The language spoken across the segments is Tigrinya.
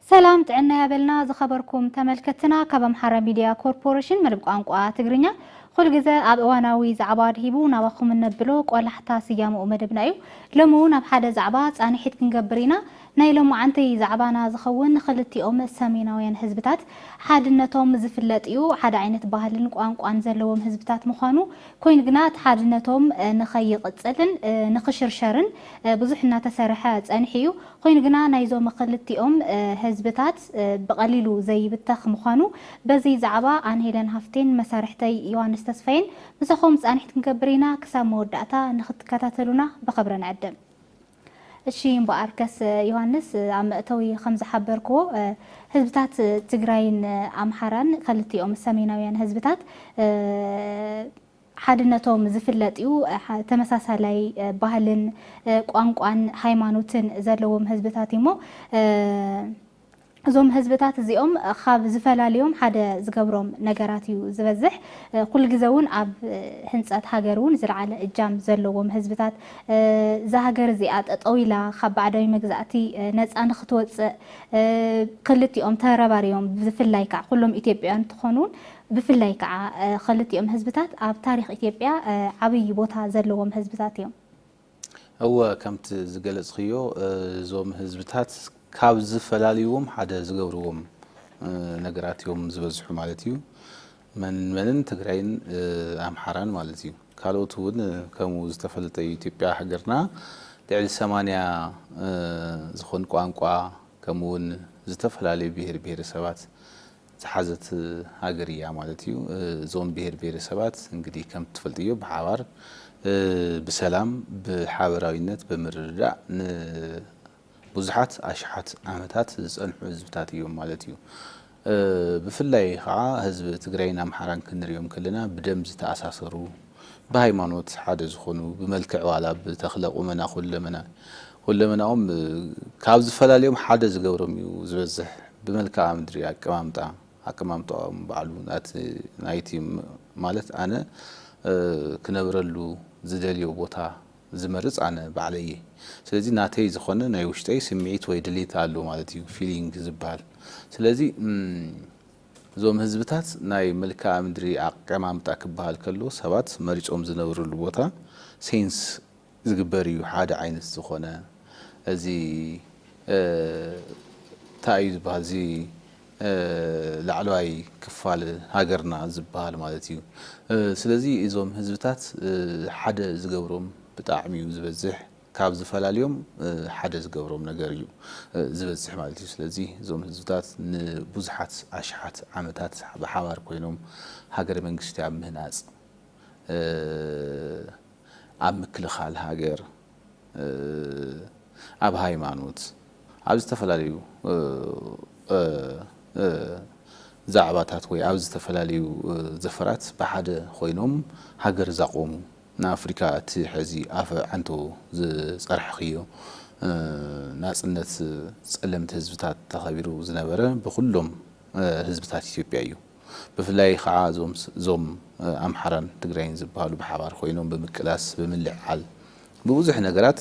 ሰላም ጥዕና ያበልና ዝኸበርኩም ተመልከትና ካብ ኣምሓራ ሚድያ ኮርፖሬሽን መደብ ቋንቋ ትግርኛ ኩል ግዘ ኣብ እዋናዊ ዛዕባ ድሂቡ ናባኹም እነብሎ ቆላሕታ ስያምኡ መደብና እዩ ሎሚ እውን ኣብ ሓደ ዛዕባ ፃንሒት ክንገብር ኢና ናይ ሎማዓንቲ ዛዕባና ዝኸውን ኽልቲኦም ሰሜናውያን ህዝብታት ሓድነቶም ዝፍለጥ እዩ። ሓደ ዓይነት ባህልን ቋንቋን ዘለዎም ህዝብታት ምዃኑ ኮይኑ ግና እቲ ሓድነቶም ንኸይቕፅልን ንኽሽርሸርን ብዙሕ እናተሰርሐ ፀኒሑ እዩ። ኾይኑ ግና ናይዞም ኽልቲኦም ህዝብታት ብቐሊሉ ዘይብተኽ ምዃኑ በዚ ዛዕባ ኣነ ሄለን ሃፍቴን መሳርሕተይ ዮሃንስ ተስፋዬን ምሳኹም ፃንሒት ክንገብር ኢና። ክሳብ መወዳእታ ንኽትከታተሉና ብኽብሪ ንዕድም። እሺ እምበኣርከስ ዮሃንስ ኣብ መእተዊ ከም ዝሓበርክዎ ህዝብታት ትግራይን ኣምሓራን ከልቲኦም ሰሜናውያን ህዝብታት ሓድነቶም ዝፍለጥ እዩ። ተመሳሳላይ ባህልን ቋንቋን ሃይማኖትን ዘለዎም ህዝብታት እዩሞ እዞም ህዝብታት እዚኦም ኻብ ዝፈላልዮም ሓደ ዝገብሮም ነገራት እዩ ዝበዝሕ። ኩሉ ግዘ እውን ኣብ ህንፀት ሃገር እውን ዝለዓለ እጃም ዘለዎም ህዝብታት እዛ ሃገር እዚኣ ጠጠው ኢላ ኻብ ባዕዳዊ መግዛእቲ ነፃ ንኽትወፅእ ኽልቲኦም ተረባሪቦም ብፍላይ ከዓ ኩሎም ኢትዮጵያውያን እንትኾኑ እውን ብፍላይ ከዓ ኽልቲኦም ህዝብታት ኣብ ታሪኽ ኢትዮጵያ ዓብይ ቦታ ዘለዎም ህዝብታት እዮም። እወ ከምቲ ዝገለፅኽዮ እዞም ህዝብታት ካብ ዝፈላልይዎም ሓደ ዝገብርዎም ነገራት እዮም ዝበዝሑ ማለት እዩ። መን መንን ትግራይን ኣምሓራን ማለት እዩ። ካልኦት እውን ከምኡ ዝተፈለጠ እዩ። ኢትዮጵያ ሃገርና ልዕሊ ሰማንያ ዝኾን ቋንቋ ከምኡ እውን ዝተፈላለዩ ብሄር ብሄረሰባት ዝሓዘት ሃገር ኢያ ማለት ኢዩ። እዞም ብሄር ብሄረሰባት እንግዲህ ከምቲ ትፈልጥዮ ብሓባር ብሰላም ብሓበራዊነት ብምርድዳእ ንቡዙሓት ኣሽሓት ዓመታት ዝጸንሑ ህዝብታት ኢዮም ማለት ኢዩ። ብፍላይ ከኣ ህዝቢ ትግራይን ኣምሓራን ክንሪኦም ከለና ብደም ዝተኣሳሰሩ ብሃይማኖት ሓደ ዝኾኑ ብመልክዕ ዋላ ብተኽለ ቁመና ኩለመና ኩለመናኦም ካብ ዝፈላልዮም ሓደ ዝገብሮም እዩ ዝበዝሕ ብመልክኣ ምድሪ ኣቀማምጣ ኣቀማምጣኦም ባዕሉ ናቲ ናይቲ ማለት ኣነ ክነብረሉ ዝደልዮ ቦታ ዝመርጽ ኣነ ባዕለይ እየ ስለዚ ናተይ ዝኾነ ናይ ውሽጠይ ስምዒት ወይ ድሌት ኣሎ ማለት እዩ ፊሊንግ ዝብሃል ስለዚ እዞም ህዝብታት ናይ መልክኣ ምድሪ ኣቀማምጣ ክበሃል ከሎ ሰባት መሪጾም ዝነብርሉ ቦታ ሴንስ ዝግበር እዩ ሓደ ዓይነት ዝኾነ እዚ ታይ እዩ ዝበሃል እዚ ላዕለዋይ ክፋል ሃገርና ዝበሃል ማለት እዩ ስለዚ እዞም ህዝብታት ሓደ ዝገብሮም ብጣዕሚ እዩ ዝበዝሕ ካብ ዝፈላልዮም ሓደ ዝገብሮም ነገር እዩ ዝበጽሕ ማለት እዩ። ስለዚ እዞም ህዝብታት ንብዙሓት ኣሽሓት ዓመታት ብሓባር ኮይኖም ሃገረ መንግስቲ ኣብ ምህናጽ፣ ኣብ ምክልኻል ሃገር፣ ኣብ ሃይማኖት፣ ኣብ ዝተፈላለዩ ዛዕባታት ወይ ኣብ ዝተፈላለዩ ዘፈራት ብሓደ ኮይኖም ሃገር ዛቖሙ ንኣፍሪካ እቲ ሐዚ ኣፈ ዓንቶ ዝፀርሕኽዮ ናፅነት ፀለምቲ ህዝብታት ተኸቢሩ ዝነበረ ብኹሎም ህዝብታት ኢትዮጵያ እዩ። ብፍላይ ኻዓ እዞም ኣምሓራን ትግራይን ዝብሃሉ ብሓባር ኾይኖም ብምቅላስ ብምልዕዓል ብብዙሕ ነገራት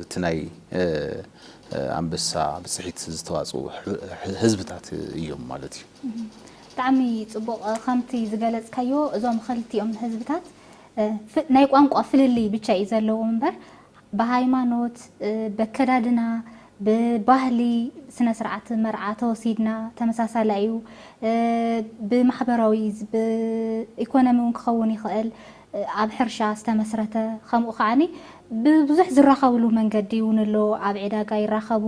እቲ ናይ ኣንበሳ ብፅሒት ዝተዋፅኡ ህዝብታት እዮም ማለት እዩ። ብጣዕሚ ፅቡቕ ከምቲ ዝገለፅካዮ እዞም ኸልቲኦም ህዝብታት ናይ ቋንቋ ፍልልይ ብቻ እዩ ዘለዎም እምበር ብሃይማኖት በከዳድና ብባህሊ ስነስርዓት መርዓ ተወሲድና ተመሳሳሊ ኣዩ ብማሕበራዊ ብኢኮኖሚ ውን ክኸውን ይኽእል ኣብ ሕርሻ ዝተመስረተ ከምኡ ከዓኒ ብብዙሕ ዝራኸብሉ መንገዲ ውን ኣሎ ኣብ ዒዳጋ ይራኸቡ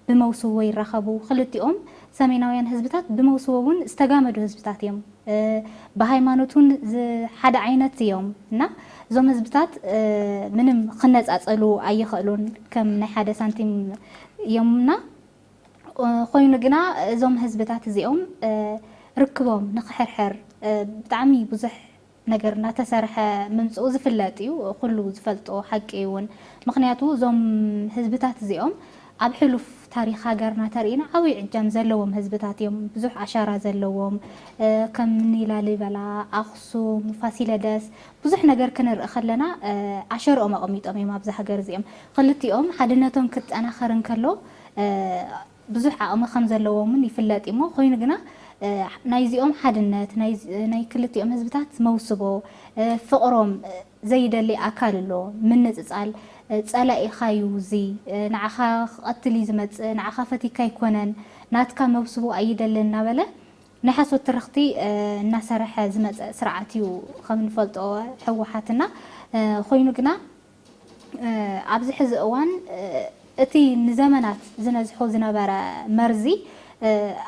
ብመውስቦ ይራኸቡ ክልቲኦም ሰሜናውያን ህዝብታት ብመውስቦ ውን ዝተጋመዱ ህዝብታት እዮም። ብሃይማኖት ውን ሓደ ዓይነት እዮም እና እዞም ህዝብታት ምንም ክነፃፀሉ ኣይኸእሉን ከም ናይ ሓደ ሳንቲም እዮም እና ኾይኑ ግና እዞም ህዝብታት እዚኦም ርክቦም ንክሕርሕር ብጣዕሚ ብዙሕ ነገር እናተሰርሐ ምምፅኡ ዝፍለጥ እዩ፣ ኩሉ ዝፈልጦ ሓቂ እዩ እውን። ምኽንያቱ እዞም ህዝብታት እዚኦም ኣብ ሕሉፍ ታሪኽ ሃገርና ተሪኢና ዓብይ ዕጃም ዘለዎም ህዝብታት እዮም። ብዙሕ ኣሻራ ዘለዎም ከም እኒ ላሊበላ፣ ኣኽሱም፣ ፋሲለደስ ብዙሕ ነገር ክንርኢ ከለና ኣሸርኦም ኣቐሚጦም እዮም ኣብዛ ሃገር እዚኦም። ኽልቲኦም ሓድነቶም ክጠናኸር እንከሎ ብዙሕ ዓቕሚ ከም ዘለዎም እውን ይፍለጥ እዩ እሞ ኾይኑ ግና ናይዚኦም ሓድነት ናይ ክልቲኦም ህዝብታት መውስቦ ፍቕሮም ዘይደሊ ኣካል ኣሎ ምንጽጻል ጸላኢኻ ዩ እዚ ንዓኻ ክቀትል ዩ ዝመጽእ ንዓኻ ፈቲካ ኣይኮነን ናትካ መብስቡ ኣይደልን እናበለ ናይ ሓሶት ትርኽቲ እናሰረሐ ዝመጸ ስርዓት ዩ ከም ንፈልጦ ህወሓት እና ኮይኑ ግና ኣብዚ ሕዚ እዋን እቲ ንዘመናት ዝነዝሖ ዝነበረ መርዚ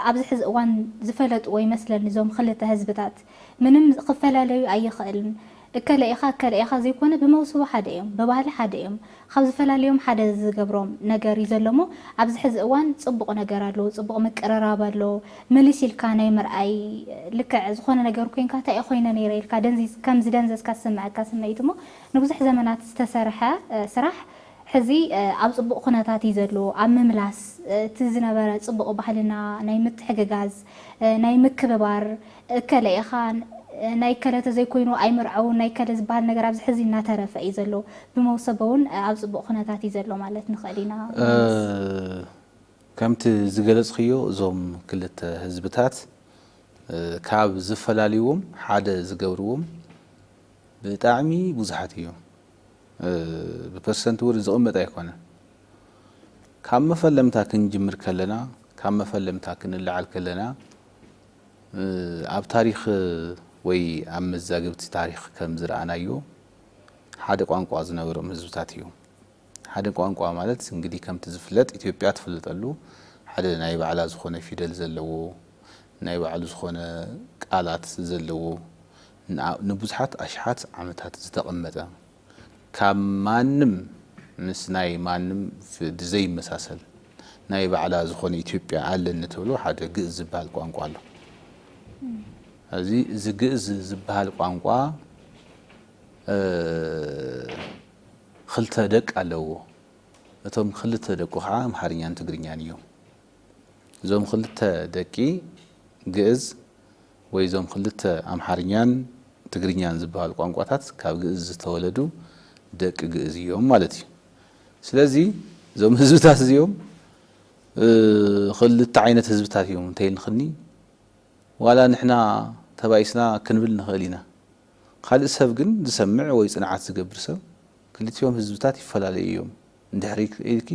ኣብዚ ሕዚ እዋን ዝፈለጥዎ ይመስለኒ እዞም ኽልተ ህዝብታት። ምንም ክፈላለዩ ኣይኽእልን እከለ ኢኻ እከለ ኢኻ ዘይኮነ ብመውስቦ ሓደ እዮም ብባህሊ ሓደ እዮም ኻብ ዝፈላልዮም ሓደ ዝገብሮም ነገር እዩ ዘሎ እሞ ኣብዚ ሕዚ እዋን ፅቡቕ ነገር ኣሎ ፅቡቕ ምቅርራብ ኣሎ ምልስ ኢልካ ናይ ምርኣይ ልክዕ ዝኾነ ነገር ኮይንካ ታይ ኾይነ ነይረ ኢልካ ደንዚዝ ከም ዝደንዘዝካ ዝስመዐካ ስምዒት እሞ ንብዙሕ ዘመናት ዝተሰርሐ ስራሕ ሕዚ ኣብ ፅቡቕ ኹነታት እዩ ዘሎ ኣብ ምምላስ እቲ ዝነበረ ፅቡቕ ባህልና ናይ ምትሕግጋዝ ናይ ምክብባር እከለ ኢኻ ናይ እከለ ተዘይኮይኑ ኣይምርዐውን ናይ እከለ ዝበሃል ነገር ኣብዚ ሕዚ እናተረፈ እዩ ዘሎ። ብመውሰቦ እውን ኣብ ፅቡቕ ኩነታት እዩ ዘሎ ማለት ንኽእል ኢና ወይንስ? ከምቲ ዝገለፅክዮ እዞም ክልተ ህዝብታት ካብ ዝፈላልይዎም ሓደ ዝገብርዎም ብጣዕሚ ብዙሓት እዮም። ብፐርሰንት እውን ዝቕመጥ ኣይኮነን። ካብ መፈለምታ ክንጅምር ከለና ካብ መፈለምታ ክንለዓል ከለና ኣብ ታሪኽ ወይ ኣብ መዛግብቲ ታሪኽ ከም ዝረኣናዮ ሓደ ቋንቋ ዝነበሮም ህዝብታት እዮም። ሓደ ቋንቋ ማለት እንግዲህ ከምቲ ዝፍለጥ ኢትዮጵያ ትፍለጠሉ ሓደ ናይ ባዕላ ዝኾነ ፊደል ዘለዎ ናይ ባዕሉ ዝኾነ ቃላት ዘለዎ ንብዙሓት ኣሽሓት ዓመታት ዝተቐመጠ ካብ ማንም ምስ ናይ ማንም ብዘይመሳሰል ናይ ባዕላ ዝኾነ ኢትዮጵያ ኣለኒ ትብሎ ሓደ ግእዝ ዝበሃል ቋንቋ ኣሎ። እዚ እዚ ግእዝ ዝበሃል ቋንቋ ኽልተ ደቅ ኣለዎ። እቶም ኽልተ ደቁ ከዓ ኣምሓርኛን ትግርኛን እዮም። እዞም ኽልተ ደቂ ግእዝ ወይ እዞም ክልተ ኣምሓርኛን ትግርኛን ዝበሃሉ ቋንቋታት ካብ ግእዝ ዝተወለዱ ደቂ ግእዝ እዮም ማለት እዩ። ስለዚ እዞም ህዝብታት እዚኦም ክልተ ዓይነት ህዝብታት እዮም እንተይልክኒ ዋላ ንሕና ተባኢስና ክንብል ንኽእል ኢና። ካልእ ሰብ ግን ዝሰምዕ ወይ ፅንዓት ዝገብር ሰብ ክልቲኦም ህዝብታት ይፈላለዩ እዮም እንድሕር ኢልኪ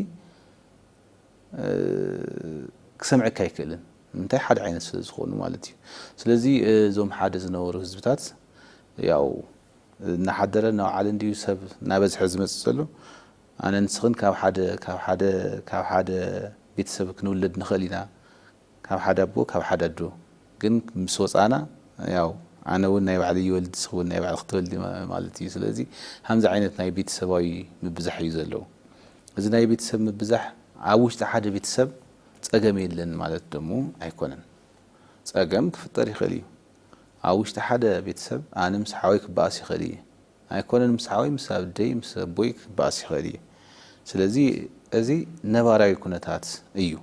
ክሰምዐካ ኣይክእልን ንምንታይ ሓደ ዓይነት ስለ ዝኾኑ ማለት እዩ ስለዚ እዞም ሓደ ዝነበሩ ህዝብታት ያው እናሓደረ እናውዓለ እንዲዩ ሰብ እናበዝሐ ዝመፅእ ዘሎ ኣነ ንስኽን ካብ ሓደ ካብ ሓደ ካብ ሓደ ቤተሰብ ክንውለድ ንኽእል ኢና ካብ ሓደ ኣቦ ካብ ሓደ ኣዶ ግን ምስ ወጻና ያው ኣነ ውን ናይ ባዕለይ ይወልድ ንስኺ ውን ናይ ባዕልኺ ትወልዲ ማለት እዩ ስለዚ ሃምዚ ዓይነት ናይ ቤተሰባዊ ምብዛሕ እዩ ዘለው እዚ ናይ ቤተሰብ ምብዛሕ ኣብ ውሽጢ ሓደ ቤተሰብ ጸገም የለን ማለት ደሞ ኣይኮነን ጸገም ክፍጠር ይኽእል እዩ ኣብ ውሽጢ ሓደ ቤተሰብ ኣነ ምስ ሓወይ ክበኣስ ይኽእል እየ ኣይኮነን ምስ ሓወይ ምስ ኣብደይ ምስ ኣቦይ ክበኣስ ይኽእል እየ ስለዚ እዚ ነባራዊ ኩነታት እዩ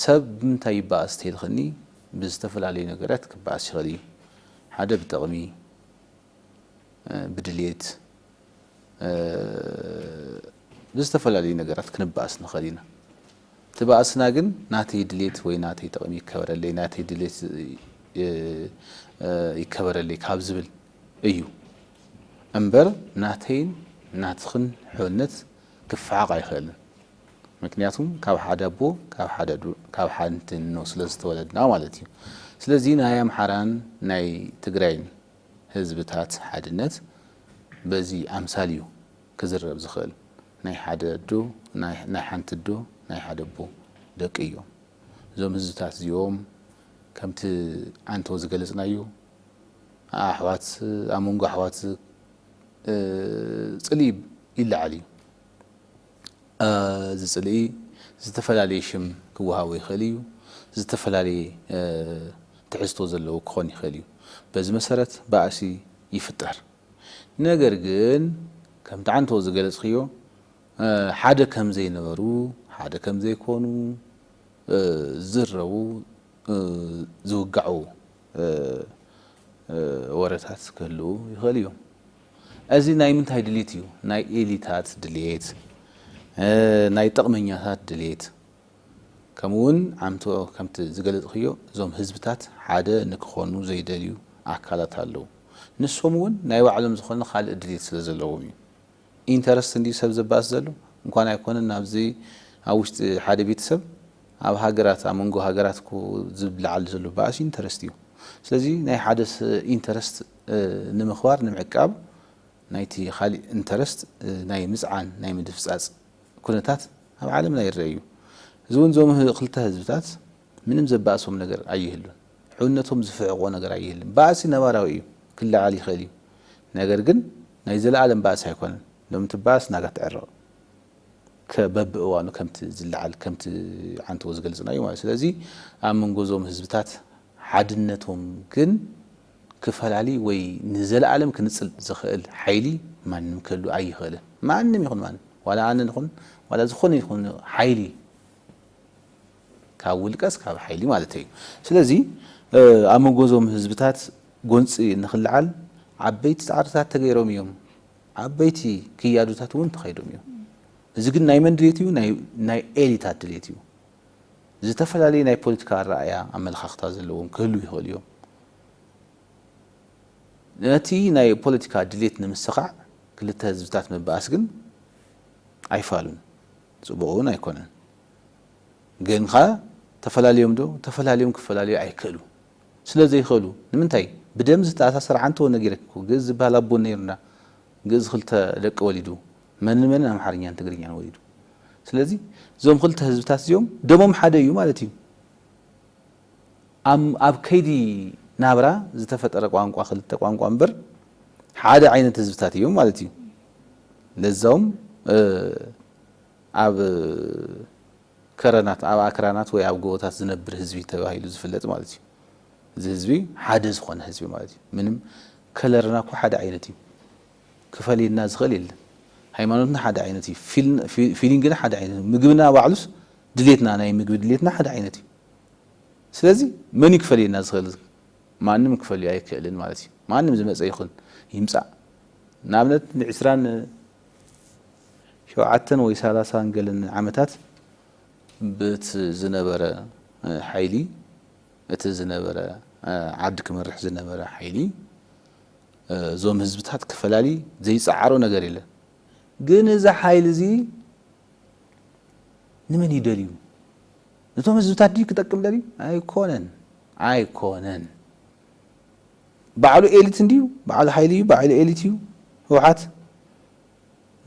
ሰብ ብምንታይ ይበኣስ ተይልክኒ ብዝተፈላለዩ ነገራት ክበኣስ ይክእል እዩ ሓደ ብጥቅሚ ብድልየት ብዝተፈላለዩ ነገራት ክንበኣስ ንክእል ኢና እቲ በኣስና ግን ናተይ ድልየት ወይ ናተይ ጥቅሚ ይከበረለይ ናተይ ድልየት ይከበረለይ ካብ ዝብል እዩ እምበር ናተይን ናትክን ሕውነት ክፈሓቅ ኣይክእልን። ምክንያቱ ካብ ሓደ ኣቦ ካብ ሓንቲ እኖ ስለ ዝተወለድና ማለት እዩ። ስለዚ ናይ ኣምሓራን ናይ ትግራይን ህዝብታት ሓድነት በዚ ኣምሳል እዩ ክዝረብ ዝኽእል። ናይ ሓደ ኣዶ ናይ ሓንቲ ኣዶ ናይ ሓደ ኣቦ ደቂ እዮም እዞም ህዝብታት እዚኦም። ከምቲ ኣንቶ ዝገለጽናዮ ኣሕዋት ኣብ መንጎ ኣሕዋት ጽልኢ ይለዓል እዩ። እዚ ጽልኢ ዝተፈላለየ ሽም ክወሃቦ ይኽእል እዩ፣ ዝተፈላለየ ትሕዝቶ ዘለዎ ክኾን ይኽእል እዩ። በዚ መሰረት ባእሲ ይፍጠር። ነገር ግን ከምቲ ዓንተቦ ዝገለጽክዮ ሓደ ከም ዘይነበሩ፣ ሓደ ከም ዘይኮኑ፣ ዝዝረቡ ዝውጋዑ ወረታት ክህልዉ ይኽእሉ እዮም። እዚ ናይ ምንታይ ድሊት እዩ ናይ ኤሊታት ድሌት ናይ ጥቕመኛታት ድሌት ከምኡ ውን ዓምቶ ከምቲ ዝገለጽኽዮ እዞም ህዝብታት ሓደ ንክኾኑ ዘይደልዩ ኣካላት ኣለዉ ንሶም ውን ናይ ባዕሎም ዝኾነ ካልእ ድሌት ስለ ዘለዎም እዩ ኢንተረስት እንድዩ ሰብ ዘባእስ ዘሎ እንኳን ኣይኮነን ኣብዚ ኣብ ውሽጢ ሓደ ቤተሰብ ኣብ ሃገራት ኣብ መንጎ ሃገራት እኮ ዝለዓል ዘሎ ባእሲ ኢንተረስት እዩ ስለዚ ናይ ሓደ ኢንተረስት ንምኽባር ንምዕቃብ ናይቲ ኻሊእ ኢንተረስት ናይ ምጽዓን ናይ ምድፍጻጽ ኩነታት ኣብ ዓለምና ይረኣ እዩ። እዚ እውን እዞም ኽልተ ህዝብታት ምንም ዘባእሶም ነገር ኣይህሉን። ሕውነቶም ዝፍሕቖ ነገር ኣይህልን። ባእሲ ነባራዊ እዩ ክለዓል ይኽእል እዩ ነገር ግን ናይ ዘለኣለም ባእሲ ኣይኮነን። ሎሚ ትበኣስ ናጋ ትዕረቕ ከ በብእዋኑ ከምቲ ዝለዓል ከምቲ ዓንተቦ ዝገልጽናዮ ማለት እዩ። ስለዚ ኣብ መንጎ እዞም ህዝብታት ሓድነቶም ግን ክፈላሊ ወይ ንዘለኣለም ክንጽል ዝኽእል ሓይሊ ማንም ክህሉ ኣይኽእልን። ማንም ይኹን ማንም ዋላ ኣነ ንኹን ዋላ ዝኾነ ይኹን ሓይሊ ካብ ውልቀስ ካብ ሓይሊ ማለተይ እዩ። ስለዚ ኣብ መንጎ እዞም ህዝብታት ጎንጺ ንኽለዓል ዓበይቲ ጻዕርታት ተገይሮም እዮም። ዓበይቲ ክያዶታት እውን ተኸይዶም እዮም። እዚ ግን ናይ መን ድሌት እዩ? ናይ ኤሊታት ድሌት እዩ። ዝተፈላለዩ ናይ ፖለቲካ ኣረኣእያ ኣመለኻኽታ ዘለዎም ክህልው ይኽእሉ እዮም። ነቲ ናይ ፖለቲካ ድሌት ንምስኻዕ ክልተ ህዝብታት ምብኣስ ግን ኣይፋሉን ጽቡቕ እውን ኣይኮነን። ግን ከ ተፈላልዮም ዶ? ተፈላልዮም ክፈላለዩ ኣይክእሉ ስለ ዘይኽእሉ ንምንታይ ብደም ዝተኣሳሰረ ዓንተወ ነጊረኪ እኮ ግእዝ ዝበሃል ኣቦ ነይሩና ግእዝ ክልተ ደቂ ወሊዱ መን ንመንን ኣምሓርኛን ትግርኛን ወሊዱ ስለዚ እዞም ክልተ ህዝብታት እዚኦም ደሞም ሓደ እዩ ማለት እዩ ኣብ ኣብ ከይዲ ናብራ ዝተፈጠረ ቋንቋ ክልተ ቋንቋ እምበር ሓደ ዓይነት ህዝብታት እዮም ማለት እዩ ለዛውም ኣብ ከረናት ኣብ ኣክራናት ወይ ኣብ ጎቦታት ዝነብር ህዝቢ ተባሂሉ ዝፍለጥ ማለት እዩ እዚ ህዝቢ ሓደ ዝኾነ ህዝቢ ማለት እዩ ምንም ከለርና እኮ ሓደ ዓይነት እዩ ክፈልየና ዝኽእል የለን ሃይማኖትና ሓደ ዓይነት እዩ ፊሊንግና ሓደ ዓይነት እዩ ምግብና ባዕሉስ ድሌትና ናይ ምግቢ ድሌትና ሓደ ዓይነት እዩ ስለዚ መን እዩ ክፈልየና ዝኽእል ማንም ክፈልዮ ኣይክእልን ማለት እዩ ማንም ዝመፀ ይኹን ይምፃእ ንኣብነት ንዕስራን ሸውዓተን ወይ ሰላሳን ገለን ዓመታት ብት ዝነበረ ሓይሊ እቲ ዝነበረ ዓዲ ክመርሕ ዝነበረ ሓይሊ እዞም ህዝብታት ክፈላሊ ዘይጸዓሮ ነገር የለን ግን እዚ ሓይሊ እዚ ንመን እዩ ደልዩ ነቶም ህዝብታት ድዩ ክጠቅም ደልዩ ኣይኮነን ኣይኮነን ባዕሉ ኤሊት እንድዩ ባዕሉ ሓይሊ እዩ ባዕሉ ኤሊት እዩ ህውሓት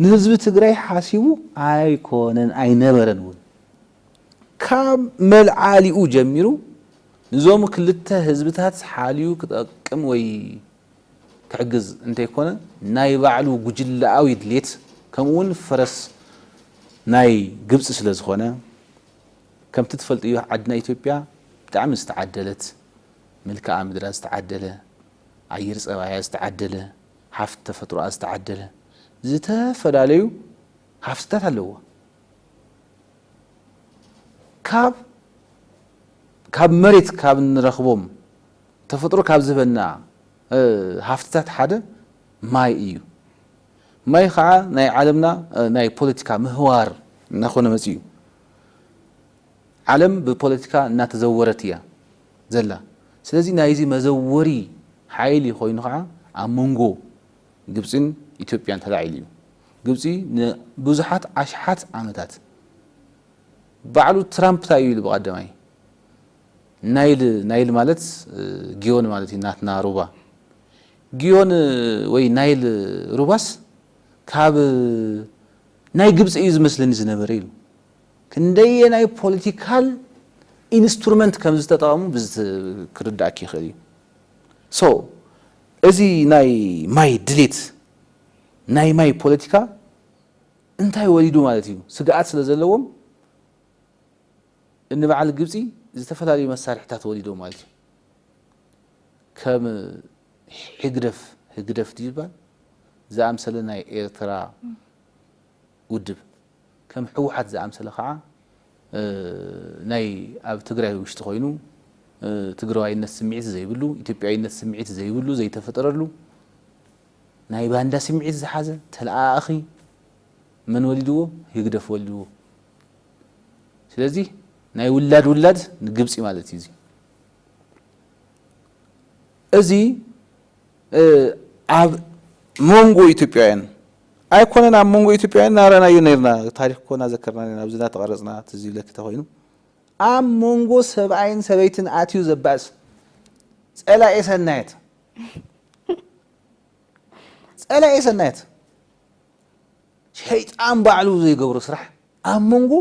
ንህዝቢ ትግራይ ሓሲቡ ኣይኮነን ኣይነበረን እውን ካብ መልዓሊኡ ጀሚሩ ንዞም ክልተ ህዝብታት ሓልዩ ክጠቅም ወይ ክሕግዝ እንተይኮነ ናይ ባዕሉ ጉጅለኣዊ ድሌት ከምኡ እውን ፈረስ ናይ ግብፂ ስለዝኾነ ከምቲ ትፈልጥዮ ዓድና ኢትዮጵያ ብጣዕሚ ዝተዓደለት መልክኣ ምድራ ዝተዓደለ ኣየር ፀባያ ዝተዓደለ ሃፍቲ ተፈጥሮኣ ዝተዓደለ ዝተፈላለዩ ሃፍትታት ኣለዋ። ካብ ካብ መሬት ካብ እንረኽቦም ተፈጥሮ ካብ ዝህበና ሃፍትታት ሓደ ማይ እዩ። ማይ ኸዓ ናይ ዓለምና ናይ ፖለቲካ ምህዋር እናኾነ መፂኡ። ዓለም ብፖለቲካ እናተዘወረት እያ ዘላ። ስለዚ ናይዚ መዘወሪ ሓይሊ ኾይኑ ኸዓ ኣብ መንጎ ግብጺን ኢትዮጵያን ተላዒሉ እዩ። ግብጺ ንብዙሓት ኣሽሓት ዓመታት ባዕሉ ትራምፕ ታይ እዩ ኢሉ ብቀዳማይ ናይል ናይል ማለት ጊዮን ማለት እዩ ናትና ሩባ ጊዮን ወይ ናይል ሩባስ ካብ ናይ ግብጺ እዩ ዝመስለኒ ዝነበረ ኢሉ ክንደየናይ ፖለቲካል ኢንስትሩመንት ከም ዝተጠቐሙ ክርዳእኪ ይኽእል እዩ። ሶ እዚ ናይ ማይ ድሌት ናይ ማይ ፖለቲካ እንታይ ወሊዱ ማለት እዩ ስግኣት ስለ ዘለዎም እኒ በዓል ግብፂ ዝተፈላለዩ መሳርሕታት ወሊዶም ማለት እዩ ከም ሕግደፍ ህግደፍ ድዩ ዝባል ዝኣምሰለ ናይ ኤርትራ ውድብ ከም ህወሓት ዝኣምሰለ ከዓ ናይ ኣብ ትግራይ ውሽጢ ኮይኑ ትግራዋይነት ስምዒት ዘይብሉ፣ ኢትዮጵያዊነት ስምዒት ዘይብሉ ዘይተፈጠረሉ ናይ ባንዳ ስምዒት ዝሓዘ ተለኣኣኺ መን ወሊድዎ? ህግደፍ ወሊድዎ። ስለዚ ናይ ውላድ ውላድ ንግብፂ ማለት እዩ እዚ። እዚ ኣብ ሞንጎ ኢትዮጵያውያን ኣይኮነን ኣብ ሞንጎ ኢትዮጵያውያን ናራናዮ ነርና ታሪክ እኮ ናዘከርና ነርና ኣብዚ ናተቐረጽና ትዝ ይብለኪ ተኾይኑ ኣብ ሞንጎ ሰብኣይን ሰበይትን ኣትዩ ዘባእስ ጸላኤ ሰናየት ጸላኤ ሰናየት ሸይጣን ባዕሉ ዘይገብሮ ስራሕ ኣብ ሞንጎ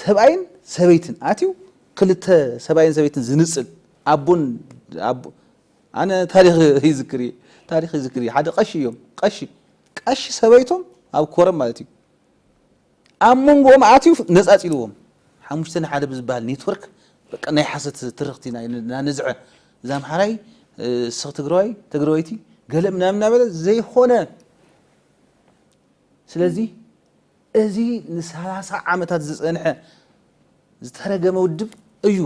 ሰብኣይን ሰበይትን ኣትዩ ክልተ ሰብኣይን ሰበይትን ዝንጽል ኣቦን ኣቦ ኣነ ታሪኽ ይዝክር እየ ታሪኽ ይዝክር እየ ሓደ ቀሺ እዮም ቀሺ ቀሺ ሰበይቶም ኣብ ኮረም ማለት እዩ ኣብ መንጎኦም ኣትዩ ነጻጺልዎም ሓሙሽተ ንሓደ ብዝበሃል ኔትወርክ በቃ ናይ ሓሰት ትርኽቲ ናነዝዐ እዛ ኣምሓራይ ስኽ ትግራዋይ ትግራወይቲ ገለ ምናምን እናበለ ዘይኾነ ስለዚ እዚ ንሳላሳ ዓመታት ዝጸንሐ ዝተረገመ ውድብ እዩ።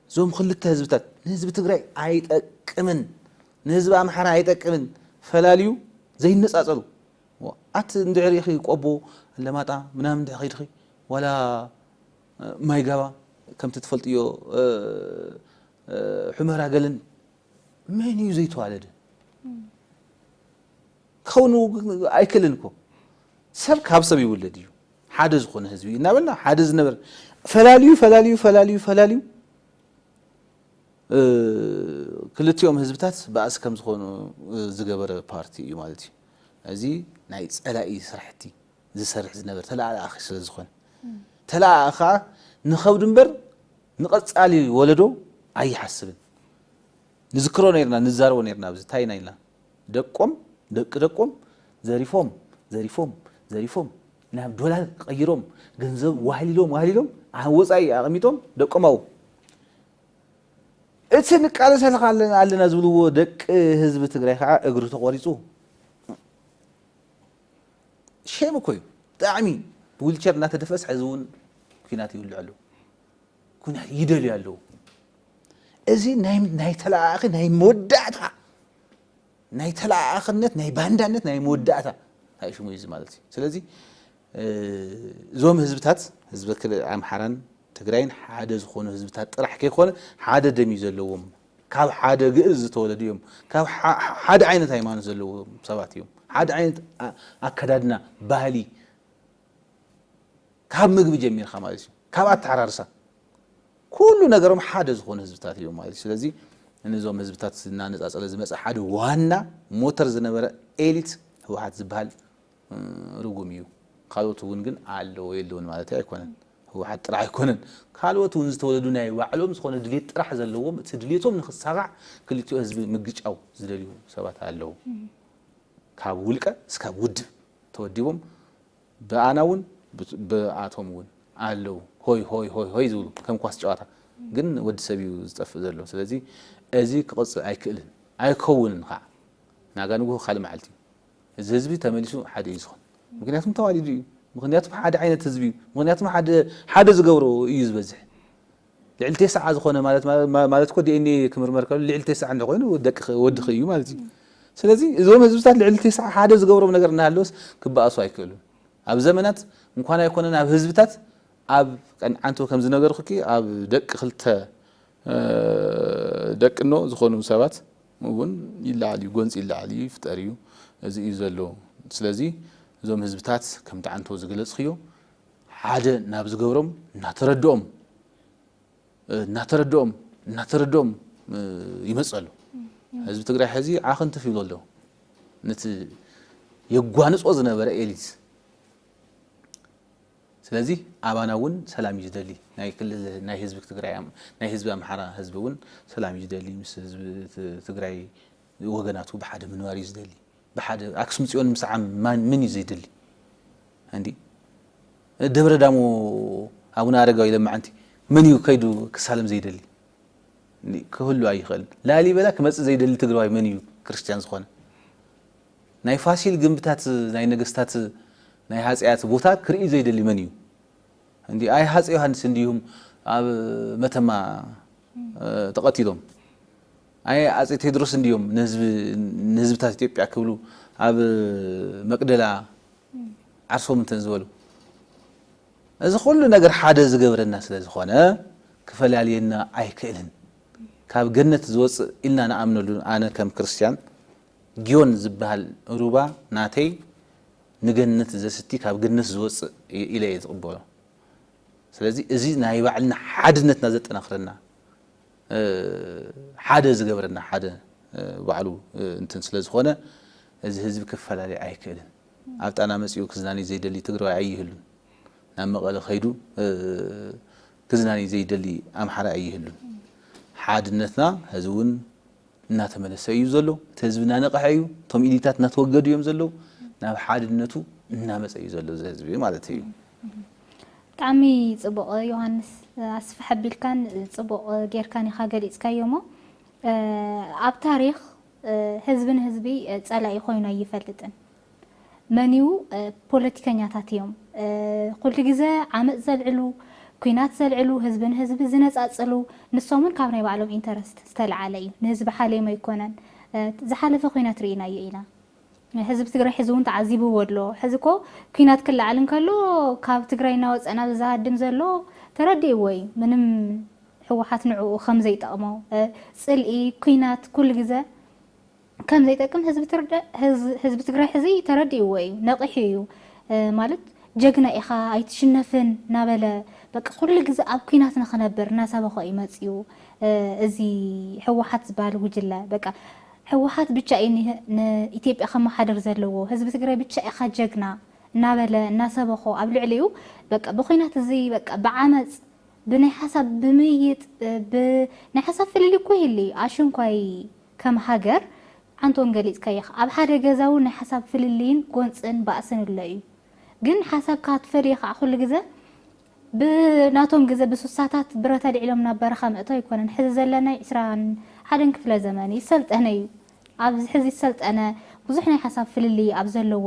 እዞም ክልተ ህዝብታት ንህዝቢ ትግራይ ኣይጠቅምን ንህዝቢ ኣምሓራ ኣይጠቅምን ፈላልዩ ዘይነጻጸሉ ኣቲ እንድሕር ኢኺ ቆቦ ኣለማጣ ምናምን እንድሕር ኺድኺ ዋላ ማይጋባ ከምቲ ትፈልጥዮ ሑመራ ገለን መን እዩ ዘይተዋለደ ክኸውን ኣይክእልን እኮ ሰብ ካብ ሰብ ይውለድ እዩ ሓደ ዝኾነ ህዝቢ እዩ እናበልና ሓደ ዝነበር ፈላልዩ ፈላልዩ ፈላልዩ ፈላልዩ ክልቲኦም ህዝብታት ባእሲ ከም ዝኾኑ ዝገበረ ፓርቲ እዩ ማለት እዩ እዚ ናይ ጸላኢ ስራሕቲ ዝሰርሕ ዝነበር ተለኣኣኺ ስለ ዝኾነ ተለኣኣ ከዓ ንኸብዱ እምበር ንቐጻሊ ወለዶ ኣይሓስብን ንዝክሮ ነርና ንዛረቦ ነርና ኣብዚ እንታይ ኢና ኢልና ደቆም ደቂ ደቆም ዘሪፎም ዘሪፎም ዘሪፎም ናብ ዶላር ቀይሮም ገንዘብ ዋህሊሎም ዋህሊሎም ኣብ ወፃኢ ኣቐሚጦም ደቆም ኣብኡ እቲ ንቃለሰልካ ኣለና ኣለና ዝብልዎ ደቂ ህዝቢ ትግራይ ከዓ እግሪ ተቖሪፁ ሼም እኮ እዩ ብጣዕሚ ብዊልቸር እናተደፈስ ሕዚ እውን ኩናት ይውልዕ ኣሎ ኩናት ይደልዩ ኣለዉ። እዚ ናይ ተለኣኣኺ ናይ መወዳእታ ናይ ተለኣኣኽነት ናይ ባንዳነት ናይ መወዳእታ ሽሙ እዩ ማለት እዩ። ስለዚ እዞም ህዝብታት ህዝቢ ኣምሓራን ትግራይን ሓደ ዝኾኑ ህዝብታት ጥራሕ ከይኮነ ሓደ ደም እዩ ዘለዎም። ካብ ሓደ ግእዝ ዝተወለዱ እዮም። ካብ ሓደ ዓይነት ሃይማኖት ዘለዎም ሰባት እዮም። ሓደ ዓይነት ኣከዳድና ባህሊ ካብ ምግቢ ጀሚርካ ማለት እዩ ካብ ኣተዓራርሳ ኩሉ ነገሮም ሓደ ዝኾኑ ህዝብታት እዮም ማለት እዩ ስለዚ ንዞም ህዝብታት እናነፃፀለ ዝመፀ ሓደ ዋና ሞተር ዝነበረ ኤሊት ህወሓት ዝበሃል ርጉም እዩ ካልኦት እውን ግን ኣለዎ የለውን ማለት ኣይኮነን ህወሓት ጥራሕ ኣይኮነን ካልኦት እውን ዝተወለዱ ናይ ባዕሎም ዝኾነ ድሌት ጥራሕ ዘለዎም እቲ ድሌቶም ንክሳጋዕ ክልቲኦ ህዝቢ ምግጫው ዝደልዩ ሰባት ኣለዉ ካብ ውልቀ እስካብ ውድብ ተወዲቦም ብኣናውን ብኣቶምውን ኣለው ሆይ ሆይ ሆይ ሆይ ዝብሉ ከም ኳስ ጨዋታ ግን ወዲ ሰብ እዩ ዝጠፍእ ዘሎ ስለዚ እዚ ክቕፅል ኣይክእልን ኣይከውንን ከዓ ናጋ ንጉሆ ካልእ መዓልቲ እዩ እዚ ህዝቢ ተመሊሱ ሓደ እዩ ዝኾን ምክንያቱም ተዋሊዱ እዩ ምክንያቱም ሓደ ዓይነት ህዝቢ እዩ ምክንያቱም ሓደ ዝገብሮ እዩ ዝበዝሕ ልዕሊ ቴስዓ ዝኾነ ማለት ማለት እኮ ዲኤንኤ ክምርመር ከሎ ልዕሊ ቴስዓ እንደ ኮይኑ ደቅኺ ወድኺ እዩ ማለት እዩ። ስለዚ እዞም ህዝብታት ልዕሊ ቴስዓ ሓደ ዝገብሮም ነገር እናሃለወስ ክበኣሱ ኣይክእሉን። ኣብ ዘመናት እንኳን ኣይኮነን ኣብ ህዝብታት ኣብ ቀን ዓንቶ ከም ዝነገርኩኪ ኣብ ደቂ ክልተ ደቅኖ ዝኾኑ ሰባት እውን ይለዓል እዩ፣ ጎንፂ ይለዓል እዩ፣ ይፍጠር እዩ፣ እዚ እዩ ዘሎ። ስለዚ እዞም ህዝብታት ከምቲ ዓንቶ ዝገለፅክዮ ሓደ ናብ ዝገብሮም እናተረድኦም እናተረድኦም እናተረድኦም ይመጽእ ኣሎ ህዝቢ ትግራይ ሕዚ ዓኽንትፍ ይብሎ ኣሎ ነቲ የጓንጾ ዝነበረ ኤሊት ስለዚ ኣባና እውን ሰላም እዩ ዝደሊ ናይ ክልል ናይ ህዝቢ ትግራይ ናይ ህዝቢ ኣምሓራ ህዝቢ እውን ሰላም እዩ ዝደሊ ምስ ህዝቢ ትግራይ ወገናቱ ብሓደ ምንባር እዩ ዝደሊ ብሓደ ኣክሱም ፅዮን ምስዓም ማን መን እዩ ዘይደሊ እንዲ ደብረ ዳሞ ኣቡነ ኣረጋዊ ለማዓንቲ መን እዩ ከይዱ ክሳለም ዘይደሊ ክህሉ ኣይኽእል ላሊበላ ክመፅእ ዘይደሊ ትግራዋይ መን እዩ ክርስትያን ዝኾነ ናይ ፋሲል ግንብታት ናይ ነገስታት ናይ ሃፀያት ቦታ ክርኢ ዘይደሊ መን እዩ እንዲ ኣይ ሃፀ ዮሃንስ እንዲሁም ኣብ መተማ ተቐቲሎም ኣየ ኣጼ ቴድሮስ እንድዮም ንህዝቢ ንህዝብታት ኢትዮጵያ ክብሉ ኣብ መቅደላ ዓርሶም እንተ ዝበሉ። እዚ ኩሉ ነገር ሓደ ዝገብረና ስለ ዝኾነ ክፈላልየና ኣይክእልን። ካብ ገነት ዝወጽእ ኢልና ንኣምነሉ ኣነ ከም ክርስትያን ግዮን ዝበሃል ሩባ ናተይ ንገነት ዘስቲ ካብ ገነት ዝወጽእ ኢለ እየ ዝቅበሎ። ስለዚ እዚ ናይ ባዕልና ሓድነትና ዘጠናኽረና ሓደ ዝገብረና ሓደ ባዕሉ እንትን ስለ ዝኾነ እዚ ህዝቢ ክፈላለይ ኣይክእልን። ኣብ ጣና መጺኡ ክዝናንይ ዘይደሊ ትግራዋይ ኣይህሉን። ናብ መቐለ ከይዱ ክዝናንይ ዘይደሊ ኣምሓራይ ኣይህሉን። ሓድነትና ሀዚ እውን እናተመለሰ እዩ ዘሎ። እቲ ህዝቢ እናነቐሐ እዩ። እቶም ኢሊታት እናተወገዱ እዮም ዘለዉ። ናብ ሓድነቱ እናመጸ እዩ ዘሎ እዚ ህዝቢ ማለት እዩ። ብጣዕሚ ጽቡቕ ዮሃንስ ኣስፍሕ ኣቢልካን ጽቡቕ ጌርካን ኢኻ ገሊጽካዮ እሞ ኣብ ታሪኽ ህዝቢ ንህዝቢ ጸላኢ ኮይኑ ኣይፈልጥን። መን እዩ ፖለቲከኛታት እዮም ኩሉ ግዜ ዓመጽ ዘልዕሉ ኩናት ዘልዕሉ ህዝቢ ንህዝቢ ዝነጻጽሉ ንሶም እውን ካብ ናይ ባዕሎም ኢንተረስት ዝተልዓለ እዩ ንህዝቢ ሓልዮም ኣይኮነን ዝሓለፈ ኩናት ርኢናዮ ኢና ህዝቢ ትግራይ ሕዚ እውን ተዓዚብዎ ኣሎ። ሕዚ እኮ ኲናት ክለዓል እንከሎ ካብ ትግራይ እናወፀ ናብዚ ዝሃድም ዘሎ ተረዲእዎ እዩ። ምንም ህወሓት ንዕኡ ከም ዘይጠቕሞ፣ ፅልኢ፣ ኲናት ኩሉ ግዘ ከም ዘይጠቅም ህዝቢ ትግራይ ሕዚ ተረዲእዎ እዩ። ነቒሑ እዩ። ማለት ጀግና ኢኻ ኣይትሽነፍን እናበለ በቃ ኩሉ ግዘ ኣብ ኲናት ንኽነብር እናሰበኾ እዩ መፂኡ እዚ ህወሓት ዝበሃል ጉጅለ በቃ። ህወሓት ብቻ እዩ ንኢትዮጵያ ከመሓድር ዘለዎ ህዝቢ ትግራይ ብቻ ኢኻ ጀግና እናበለ እናሰበኾ ኣብ ልዕሊኡ በቃ ብኹናት እዚ በቃ ብዓመፅ ብናይ ሓሳብ ብምይይጥ ብ ናይ ሓሳብ ፍልልይ እኮ ይህሊ ኣሽንኳይ ከም ሃገር ዓንተ እውን ገሊፅካዮ ኢኻ ኣብ ሓደ ገዛ እውን ናይ ሓሳብ ፍልልይን ጎንፅን ባእስን እሎ እዩ ግን ሓሳብካ ክትፈልዮ ከዓ ኩሉ ግዘ ብናቶም ግዘ ብሱሳታት ብረት ኣልዒሎም ናብ በረኻ ምእቶ ኣይኮነን ሕዚ ዘለናይ ዕስራን ሓደን ክፍለ ዘመን እዩ ዝሰልጠነ እዩ ኣብዚ ሕዚ ዝሰልጠነ ብዙሕ ናይ ሓሳብ ፍልልይ ኣብ ዘለዎ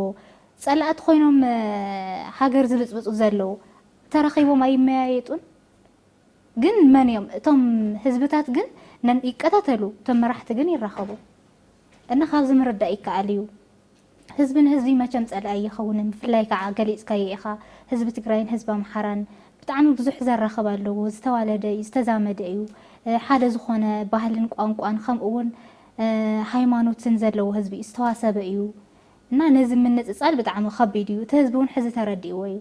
ፀላእቲ ኮይኖም ሃገር ዝብፅብፁ ዘለው ተራኺቦም ኣይመያየጡን ግን መን እዮም እቶም ህዝብታት ግን ነን ይቀታተሉ እቶም መራሕቲ ግን ይራኸቡ እና ካብዚ ምርዳእ ይከኣል እዩ። ህዝቢ ንህዝቢ መቸም ጸላኢ ኣይኸውንን ብፍላይ ካዓ ገሊጽካዮ ኢኻ ህዝቢ ትግራይን ህዝቢ ኣምሓራን ብጣዕሚ ብዙሕ ዘራኽብ ኣለዎ ዝተዋለደ እዩ ዝተዛመደ እዩ ሓደ ዝኾነ ባህልን ቋንቋን ከምኡ ውን ሃይማኖትን ዘለዎ ህዝቢ እዩ ዝተዋሰበ እዩ እና ነዚ ምንጽጻል ብጣዕሚ ከቢድ እዩ እቲ ህዝቢ ውን ሕዚ ተረዲእዎ እዩ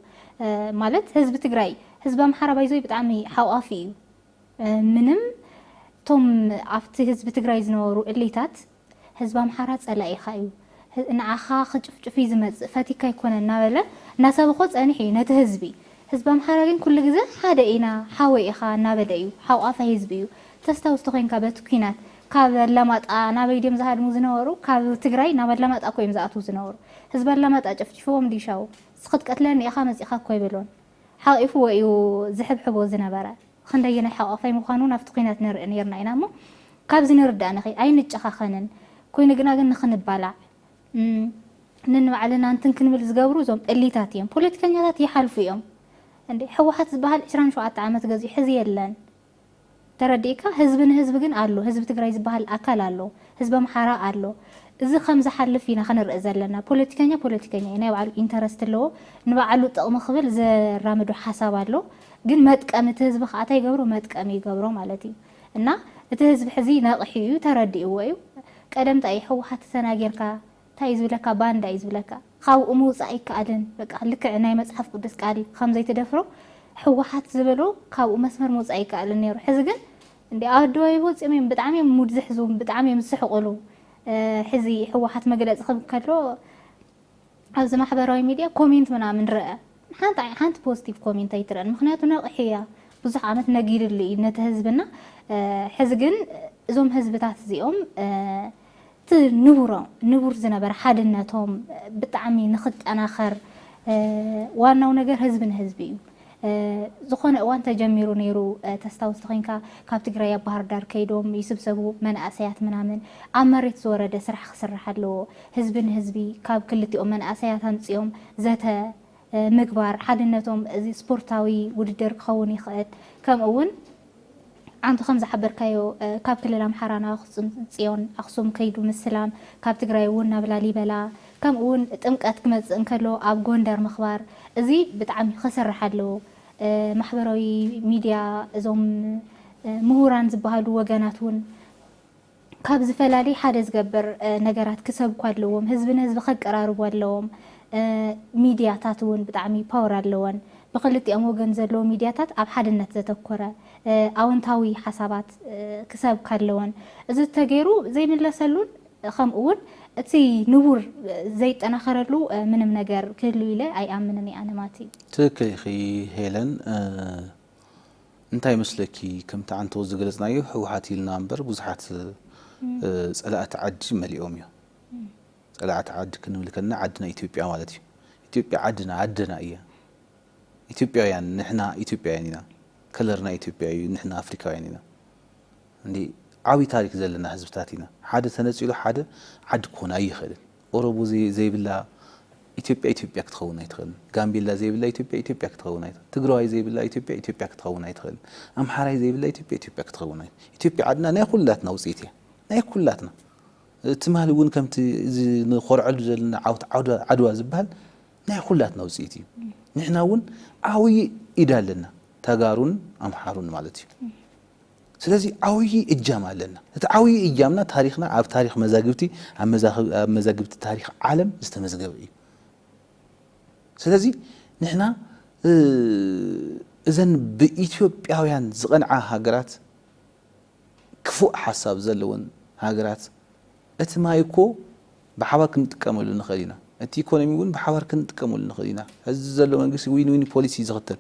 ማለት ህዝቢ ትግራይ ህዝቢ ኣምሓራ ባይዘወይ ብጣዕሚ ሓቋፊ እዩ ምንም እቶም ኣብቲ ህዝቢ ትግራይ ዝነበሩ እሊታት ህዝቢ ኣምሓራ ጸላኢኻ እዩ ንዓኻ ክጭፍጭፍ እዩ ዝመጽእ ፈቲካ ኣይኮነን እናበለ እናሰበኾ ጸኒሑ እዩ ነቲ ህዝቢ። ህዝቢ ኣምሓራ ግን ኩሉ ግዘ ሓደ ኢና ሓወይ ኢኻ እናበለ እዩ ሓቋፋይ ህዝቢ እዩ። ተስታውስ ተኾይንካ በቲ ኩናት ካብ ኣላማጣ ናበይ ድዮም ዝሃድሙ ዝነበሩ ካብ ትግራይ ናብ ኣላማጣ እኮ እዮም ዝኣትዉ ዝነበሩ ህዝቢ ኣላማጣ ጨፍጪፍዎም ድዩ ሻው ክትቀትለኒ ኢኻ መጺእኻ እኮ ኣይበሎን ሓቂፍዎ እዩ ዝሕብሕቦ ዝነበረ። ኽንደየናይ ሓቛፋይ ምዃኑ ናብቲ ኲናት ንርኢ ኔርና ኢና እሞ ካብዚ ንርዳእንኺ ኣይንጨኻኸንን ኮይኑ ግና ግን ንኽንባላዕ ነንባዕልና እንትን ክንብል ዝገብሩ እዞም እሊታት እዮም ፖለቲከኛታት ይሓልፉ እዮም እንዴ ሕወሓት ዝባሃል ዕስራን ሸውዓተ ዓመት ገዚኡ ሕዚ የለን ተረዲእካ ህዝቢ ንህዝቢ ግን ኣሎ ህዝቢ ትግራይ ዝባሃል ኣካል ኣሎ ህዝቢ ኣምሓራ ኣሎ እዚ ከምዝሓልፍ ኢና ክንርኢ ዘለና ፖለቲከኛ ፖለቲከኛ እዩ ናይ ባዕሉ ኢንተረስት ኣለዎ ንባዕሉ ጥቕሚ ክብል ዘራምዶ ሓሳብ ኣሎ ግን መጥቀሚ እቲ ህዝቢ ከኣ ታይ ይገብሮ መጥቀሚ ይገብሮ ማለት እዩ እና እቲ ህዝቢ ሕዚ ነቅሑ እዩ ተረዲእዎ እዩ ቀደም ታይ እዩ ህወሓት ተናጊርካ ታይ እዩ ዝብለካ ባንዳ እዩ ዝብለካ ኻብኡ ምውፃእ ኣይከኣልን በቃ ልክዕ ናይ መፅሓፍ ቅዱስ ቃል ኸም ዘይትደፍሮ ህወሓት ዝበሎ ካብኡ መስመር ምውፃእ ኣይከኣልን ነይሩ ሕዚ ግን እንዴ ኣዶ ይወፂኦም እዮም ብጣዕሚ እዮም ሙድ ዝሕዙ ብጣዕሚ እዮም ዝስሕቁሉ ሕዚ ህወሓት መግለፂ ክህብ ከሎ ኣብዚ ማሕበራዊ ሚድያ ኮሜንት ምናምን ረኣ ሓንቲ ሓንቲ ፖዝቲቭ ኮሜንት ኣይትረኣን ምክንያቱ ነቅሒ እያ ብዙሕ ዓመት ነጊርሉ እዩ ነቲ ህዝብና ሕዚ ግን እዞም ህዝብታት እዚኦም እቲ ንቡሮ ንቡር ዝነበረ ሓድነቶም ብጣዕሚ ንክጠናኸር ዋናው ነገር ህዝቢ ንህዝቢ እዩ ዝኾነ እዋን ተጀሚሩ ነይሩ ተስታውስ ተኾይንካ ካብ ትግራይ ኣብ ባህርዳር ከይዶም ይስብሰቡ መናእሰያት ምናምን ኣብ መሬት ዝወረደ ስራሕ ክስራሕ ኣለዎ ህዝቢ ንህዝቢ ካብ ክልቲኦም መናእሰያት ኣምፂኦም ዘተ ምግባር ሓድነቶም እዚ ስፖርታዊ ውድድር ክኸውን ይኽእል ከምኡ እውን ኣንተ ከምዝሓበርካዮ ካብ ክልል ኣምሓራ ናብ ኣክሱም ፅዮን ኣክሱም ከይዱ ምስላም ካብ ትግራይ እውን ናብ ላሊበላ ከምኡ እውን ጥምቀት ክመፅእ እንከሎ ኣብ ጎንደር ምክባር እዚ ብጣዕሚ ከስርሕ ኣለዎ ማሕበራዊ ሚድያ እዞም ሙሁራን ዝባሃሉ ወገናት እውን ካብ ዝፈላሊ ሓደ ዝገብር ነገራት ክሰብኩ ኣለዎም ህዝቢ ንህዝቢ ከቀራርቡ ኣለዎም ሚድያታት እውን ብጣዕሚ ፓወር ኣለወን ብክልቲኦም ወገን ዘለዎ ሚድያታት ኣብ ሓድነት ዘተኮረ ኣወንታዊ ሓሳባት ክሰብካ ኣለወን እዚ እተገይሩ ዘይምለሰሉን ከምኡ እውን እቲ ንቡር ዘይጠናኸረሉ ምንም ነገር ክህሉ ኢለ ኣይኣምንን እየ ኣነ ማቲ። ትክክል ኢኺ ሄለን እንታይ ይመስለኪ ከምቲ ዓንተቦ ዝገለፅናዮ ህወሓት ኢልና እምበር ብዙሓት ፀላእቲ ዓዲ መሊኦም እዮም። ፀላእቲ ዓዲ ክንብል ከለና ዓድና ኢትዮጵያ ማለት እዩ። ኢትዮጵያ ዓድና ኣደና እያ። ኢትዮጵያውያን ንሕና ኢትዮጵያውያን ኢና። ከለርና ኢትዮጵያ እዩ። ንሕና ኣፍሪካውያን ኢና። እንዲ ዓብይ ታሪክ ዘለና ህዝብታት ኢና። ሓደ ተነፂሉ ሓደ ዓዲ ክኾን ኣይኽእልን። ኦሮሞ ዘይብላ ኢትዮጵያ ኢትዮጵያ ክትኸውን ኣይትኽእልን። ጋምቤላ ዘይብላ ኢትዮጵያ ኢትዮጵያ ክትኸውን ኣይትኽእልን። ትግራዋይ ዘይብላ ኢትዮጵያ ኢትዮጵያ ክትኸውን ኣይትኽእልን። ኣምሓራይ ዘይብላ ኢትዮጵያ ኢትዮጵያ ክትኸውን ኣይትኽእልን። ኢትዮጵያ ዓድና ናይ ኩላትና ውፅኢት እያ። ናይ ኩላትና ትማሊ እውን ከምቲ እዚ ንኾርዐሉ ዘለና ዓውት ዓድዋ ዝበሃል ናይ ኩላትና ውፅኢት እዩ። ንሕና እውን ዓብዪ ኢድ ኣለና ተጋሩን ኣምሓሩን ማለት እዩ። ስለዚ ዓውዪ እጃም ኣለና። እቲ ዓውዪ እጃምና ታሪኽና ኣብ ታሪኽ መዛግብቲ ኣብ መዛግብቲ ታሪኽ ዓለም ዝተመዝገበ እዩ። ስለዚ ንሕና እዘን ብኢትዮጵያውያን ዝቐንዓ ሃገራት ክፉእ ሓሳብ ዘለወን ሃገራት እቲ ማይ እኮ ብሓባር ክንጥቀመሉ ንኽእል ኢና፣ እቲ ኢኮኖሚ እውን ብሓባር ክንጥቀመሉ ንኽእል ኢና፣ ሕዚ ዘሎ መንግስቲ ዊን ዊን ፖሊሲ ዝኽተል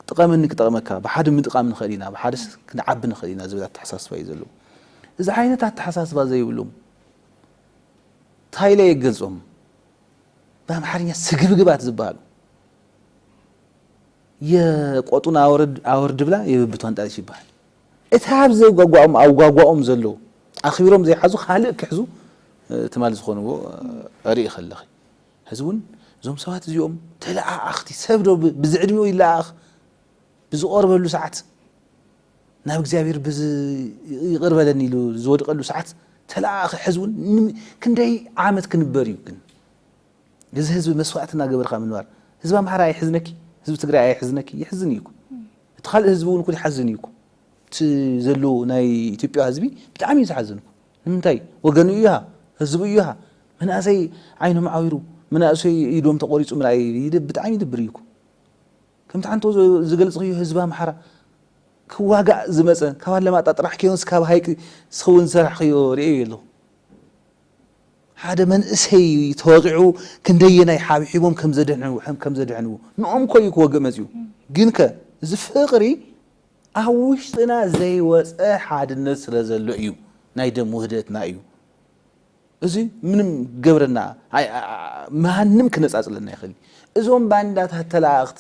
ጥቐመኒ ክጠቕመካ፣ ብሓደ ምጥቓም ንኽእል ኢና፣ ብሓደ ክንዓቢ ንኽእል ኢና ዝብል ኣተሓሳስባ እዩ ዘለዎም። እዚ ዓይነት ኣተሓሳስባ ዘይብሎም ታይ ኢለ እየ ክገልፆም ብኣምሓርኛ ስግብግባት ዝበሃሉ የቆጡን ኣወርድ ኣወርድ ብላ የብብቷን ጣልሽ ይበሃል እቲ ኣብ ዘጓጓኦም ኣብ ጓጓኦም ዘለዉ ኣኽቢሮም ዘይሓዙ ካልእ ክሕዙ ትማል ዝኾንዎ ርኢ ከለኺ ሕዚ እውን እዞም ሰባት እዚኦም ተለኣኣኽቲ፣ ሰብ ዶ ብዝዕድሚኡ ይለኣኣኽ? ብዝቖርበሉ ሰዓት፣ ናብ እግዚኣብሔር ብዝ ይቕር በለኒ ኢሉ ዝወድቐሉ ሰዓት ተለኣኣኺ ሕዚ እውን ን- ክንደይ ዓመት ክንበር እዩ ግን እዚ ህዝቢ መስዋእቲ እናገበርካ ምንባር ህዝቢ ኣምሓራ ኣይሕዝነኪ ህዝቢ ትግራይ ኣይሕዝነኪ ይሕዝን እዩ እኮ እቲ ካልእ ህዝቢ እውን እኮ ይሓዝን እዩ እኮ እቲ ዘሎ ናይ ኢትዮጵያ ህዝቢ ብጣዕሚ እዩ ዝሓዝን እኮ ንምንታይ ወገኑ እዩሃ ህዝቡ እዩሃ መናእሰይ ዓይኖም ዓዊሩ መናእሰይ ኢዶም ተቆሪፁ ምርኣይ ብጣዕሚ ይድብር እዩኩ ከምቲ ሓንቶ ዝገልፅክዮ ህዝቢ ኣምሓራ ክዋጋእ ዝመፀ ካብ ኣለማጣ ጥራሕ ከዮንስ ካብ ሃይቂ ስክውን ዝሰራሕክዮ ርእዮ የለኹ ሓደ መንእሰይ ተወቂዑ ክንደየናይ ሓብሒቦም ከምዘድሕንዎ ከምዘድሕንዎ ንኦም ኮዩ ክወግእ መፅኡ ግንከ እዚ ፍቅሪ ኣብ ውሽጥና ዘይወጸ ሓድነት ስለ ዘሎ እዩ ናይ ደም ውህደትና እዩ እዚ ምንም ገብረና ማንም ክነጻጽለና ይኽእል እዞም ባንዳታት ተላኣእኽቲ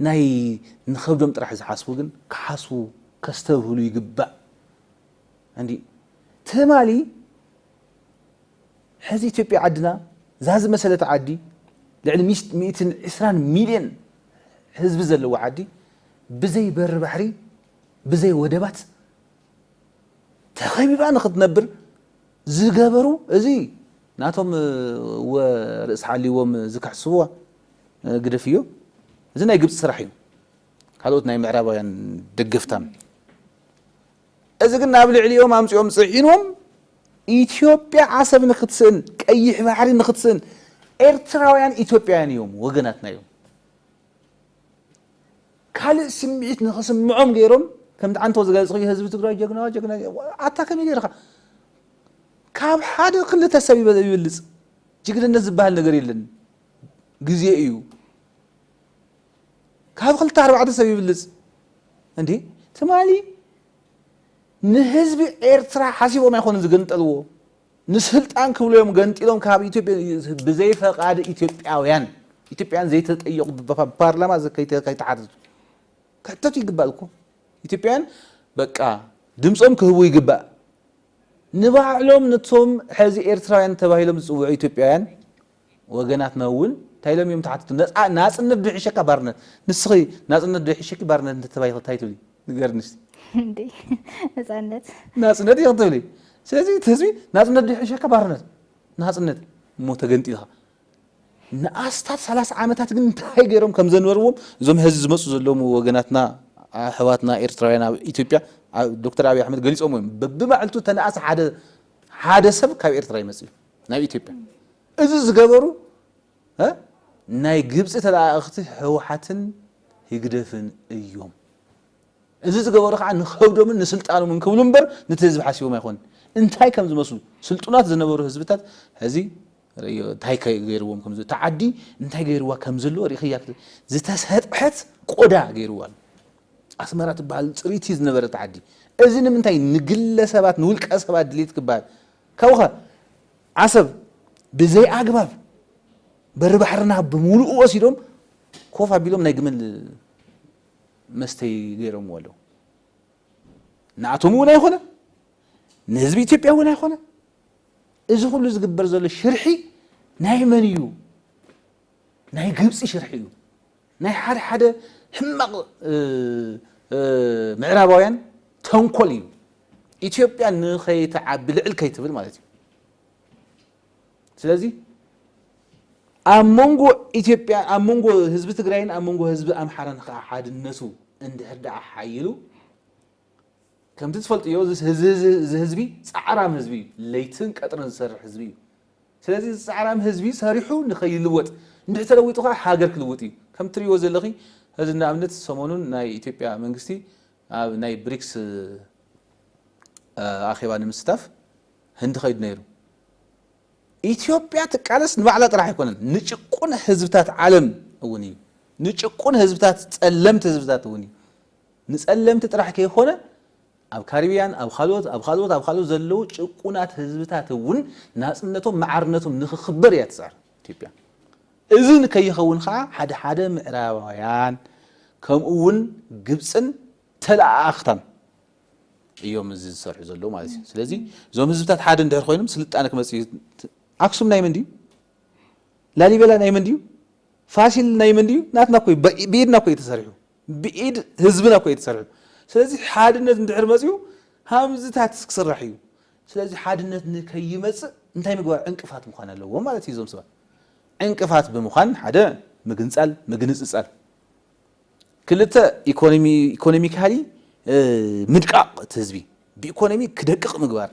ናይ ንኸብዶም ጥራሕ ዝሓስቡ ግን ክሓስቡ ከስተብህሉ ይግባእ እንዲ ትማሊ ሕዚ ኢትዮጵያ ዓድና እዛ ዝመሰለት ዓዲ ልዕሊ ሚእትን ዕስራን ሚልዮን ህዝቢ ዘለዎ ዓዲ ብዘይ በሪ ባሕሪ ብዘይ ወደባት ተኸቢባ ንክትነብር ዝገበሩ እዚ ናቶም ወ ርእሲ ሓልዎም ዝክሕስዎ ግደፍ እዮ እዚ ናይ ግብፂ ስራሕ እዩ ካልኦት ናይ ምዕራባውያን ደገፍታን እዚ ግን ናብ ልዕሊኦም ኣምፂኦም ፅዒኖም ኢትዮጵያ ዓሰብ ንክትስእን ቀይሕ ባሕሪ ንክትስእን ኤርትራውያን ኢትዮጵያውያን እዮም ወገናትና እዮም ካልእ ስምዒት ንክስምዖም ገይሮም ከምቲ ዓንቶ ዝገለፅክዮ ህዝቢ ትግራይ ጀግና ጀግና ኣታ ከመይ ገይርካ ካብ ሓደ ክልተ ሰብ ይበልፅ ጅግንነት ዝበሃል ነገር የለን ግዜ እዩ ካብ ክልተ ኣርባዕተ ሰብ ይብልፅ እንዴ ትማሊ ንህዝቢ ኤርትራ ሓሲቦም ኣይኮኑን ዝግንጠልዎ ንስልጣን ክብሉ እዮም ገንጢሎም ካብ ኢትዮጵ ብዘይ ፈቓድ ኢትዮጵያውያን ኢትዮጵያን ዘይተጠየቑ ብፓርላማ ከይተሓተቱ ክሕተቱ ይግባእ እኮ ኢትዮጵያን በቃ ድምፆም ክህቡ ይግባእ ንባዕሎም ነቶም ሕዚ ኤርትራውያን ተባሂሎም ዝፅውዑ ኢትዮጵያውያን ወገናትና እውን ታይ ኢሎም እዮም ተሓተቱ ነፃ ናፅነት ዶ ይሕሸካ ባርነት ንስኺ ናፅነት ዶ ይሕሸኪ ባርነት እንተተባሂኺ ታይ ትብሊ ንገርኒ እስቲ እንዴ ነፃነት ናፅነት ኢኺ ትብሊ ስለዚ እቲ ህዝቢ ናፅነት ዶ ይሕሸካ ባርነት ናፅነት እሞ ተገንጢልኻ ንኣስታት ሰላሳ ዓመታት ግን እንታይ ገይሮም ከም ዘንበርዎም እዞም ሀዚ ዝመፁ ዘለዉ ወገናትና ኣሕዋትና ኤርትራውያን ኣብ ኢትዮጵያ ዶክተር ኣብይ ኣሕመድ ገሊፆም እዮም በብማዕልቱ ተነኣስ ሓደ ሓደ ሰብ ካብ ኤርትራ ይመፅእ እዩ ናይ ኢትዮጵያ እዚ ዝገበሩ እ ናይ ግብጺ ተለኣኣኽቲ ህውሓትን ህግደፍን እዮም እዚ ዝገበሩ ከዓ ንኸብዶምን ንስልጣኖምን ክብሉ እምበር ነቲ ህዝቢ ሓሲቦም ኣይኮኑን እንታይ ከም ዝመስሉ ስልጡናት ዝነበሩ ህዝብታት ሕዚ ርእዮ እንታይ ገይርዎም ከም ዘሎ እታ ዓዲ እንታይ ገይርዋ ከም ዘለዎ ርኢኽያ ክት- ዝተሰጥሐት ቆዳ ገይርዋ ኣሎ ኣስመራ ትበሃል ፅሪቲ ዝነበረት ዓዲ እዚ ንምንታይ ንግለ ሰባት ንውልቀ ሰባት ድሌት ክበሃል ካብኡኸ ዓሰብ ብዘይኣግባብ በሪ ባሕርና ብምሉኡ ወሲዶም ኮፍ ኣቢሎም ናይ ግመል መስተይ ገይሮምዎ ኣለዉ። ንኣቶም እውን ኣይኮነ ንህዝቢ ኢትዮጵያ እውን ኣይኮነ። እዚ ኩሉ ዝግበር ዘሎ ሽርሒ ናይ መን እዩ? ናይ ግብፂ ሽርሒ እዩ። ናይ ሓደ ሓደ ሕማቕ ምዕራባውያን ተንኮል እዩ። ኢትዮጵያ ንኸይትዓቢ ልዕል ከይትብል ማለት እዩ። ስለዚ ኣብ መንጎ ኢትዮጵያ ኣብ መንጎ ህዝቢ ትግራይን ኣብ መንጎ ህዝቢ ኣምሓራን ከዓ ሓድነቱ እንድሕር ደኣ ሓይሉ ከምቲ ትፈልጥዮ እዚ ህዝቢ ፃዕራም ህዝቢ እዩ። ለይትን ቀጥርን ዝሰርሕ ህዝቢ እዩ። ስለዚ እዚ ጻዕራም ህዝቢ ሰሪሑ ንኸይልወጥ እንድሕር ተለዊጡ ከኣ ሃገር ክልውጥ እዩ። ከምቲ ትርእይዎ ዘለኺ እዚ ንኣብነት ሰሞኑን ናይ ኢትዮጵያ መንግስቲ ኣብ ናይ ብሪክስ ኣኼባ ንምስታፍ ህንዲ ከይዱ ነይሩ። ኢትዮጵያ ትቃለስ ንባዕላ ጥራሕ ኣይኮነን ንጭቁን ህዝብታት ዓለም እውን እዩ። ንጭቁን ህዝብታት ጸለምቲ ህዝብታት እውን እዩ። ንጸለምቲ ጥራሕ ከይኮነ ኣብ ካሪብያን ኣብ ኻልኦት ኣብ ኻልኦት ኣብ ኻልኦት ዘለዉ ጭቁናት ህዝብታት እውን ናጽነቶም ማዕርነቶም ንኽኽበር እያ ትጽዕር ኢትዮጵያ። እዚ ንከይኸውን ኸኣ ሓደ ሓደ ምዕራባውያን ከምኡ እውን ግብጽን ተለኣኣኽታን እዮም እዚ ዝሰርሑ ዘለዉ ማለት እዩ። ስለዚ እዞም ህዝብታት ሓደ እንድሕር ኾይኖም ስልጣነ ክመጽእ እዩ። ኣክሱም ናይ መን ድዩ? ላሊበላ ናይ መን ድዩ? ፋሲል ናይ መን ድዩ? ናትና እኮ እዩ። ብኢድና እኮ እዩ ተሰሪሑ። ብኢድ ህዝብና እኮ እዩ ተሰሪሑ። ስለዚ ሓድነት እንድሕር መፅዩ ሃምዝታት ክስራሕ እዩ። ስለዚ ሓድነት ንከይመፅእ እንታይ ምግባር ዕንቅፋት ምዃን ኣለዎም ማለት እዩ እዞም ሰባት። ዕንቅፋት ብምዃን ሓደ ምግንፃል ምግንፅፃል፣ ክልተ ኢኮኖሚካሊ ምድቃቕ እቲ ህዝቢ ብኢኮኖሚ ክደቅቕ ምግባር፣